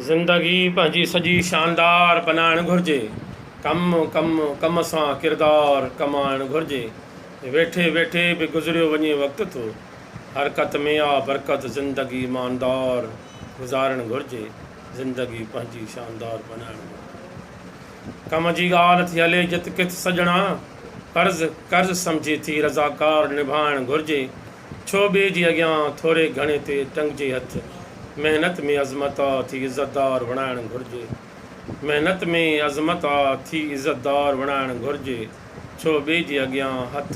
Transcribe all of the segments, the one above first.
زندگي پنهنجي سڄي شاندار بنائڻ گهرجي، ڪم ڪم ڪم سان ڪردار ڪمائڻ گهرجي، ويٺي ويٺي به گذريو وڃي وقت ٿو، حرڪت ۾ آ برڪت زندگي ماندار گذارڻ گهرجي، زندگي پنهنجي شاندار بنائڻ گهرجي، ڪم جي ڳالهه ٿي هلي جت ڪٿ سڄڻا، قرض قرض سمجهي ٿي رضاڪار نڀائڻ گهرجي، ڇو ٻئي جي اڳيان ٿوري گهڻي تي ٽنگجي هٿ محنت ۾ عظمت آ ٿي عزت دار وڻائڻ گهرجي محنت ۾ عظمت آ ٿي عزت دار وڻائڻ گهرجي ڇو ٻئي جي اڳيان هٿ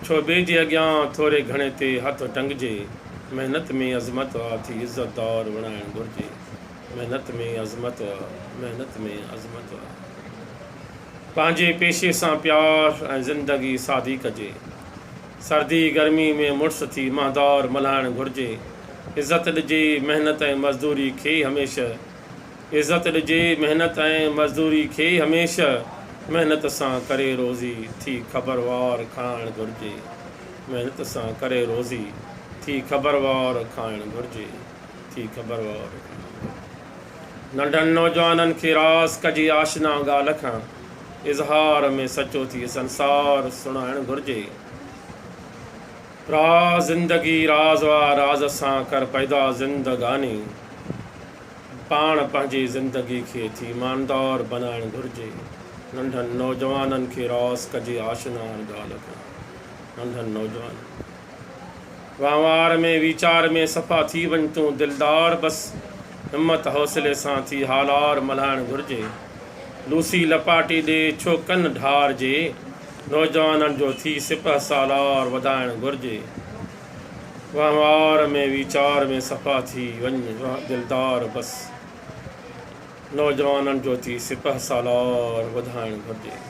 ڇو ٻئي جي اڳيان ٿوري گهڻي تي هٿ ٽنگجي محنت ۾ عظمت آ ٿي عزت دار وڻائڻ گهرجي محنت ۾ عظمت آ محنت ۾ عظمت آ پنهنجي پيشي سان پيار ۽ زندگي سادي ڪجي. سردي گرمي ۾ مڙس ٿي مهندور ملهائڻ گهرجي. عزت ڏجي محنت ۽ مزدوري کي هميشه. عزت ڏجي محنت ۽ مزدوري کي هميشه محنت سان ڪري روزي ٿي خبر وار کائڻ گهرجي. محنت سان ڪري روزي ٿي خبر وار کائڻ گهرجي. ٿي خبر وار. ننڍن نوجوانن کي راس ڪجي آشنا ڳالهه کان. اظهار ۾ سچو ٿي سنسار سڻائڻ گهرجي. را زندگي راز آ راز سان ڪر پيدا زندگاني. پاڻ پنهنجي زندگي کي ٿي ايماندار بنائڻ گهرجي. ننڍن نوجوانن کي راس ڪجي آشنا هر ڳالهه کان ننڍن نوجوانن. وهنوار ۾ ويچار ۾ صفا ٿي وڃ تون دلدار بس همت حوصلي سان ٿي هالار ملهائڻ گهرجي لوسي لپاٽي ڏي ڇو ڪن ڍار جي نوجوانن جو ٿي سپهه سالار وڌائڻ گهرجي وهنوار ۾ ويچار ۾ صفا ٿي وڃ دلدار بس نوجوانن جو ٿي سپهه سالار وڌائڻ گهرجي.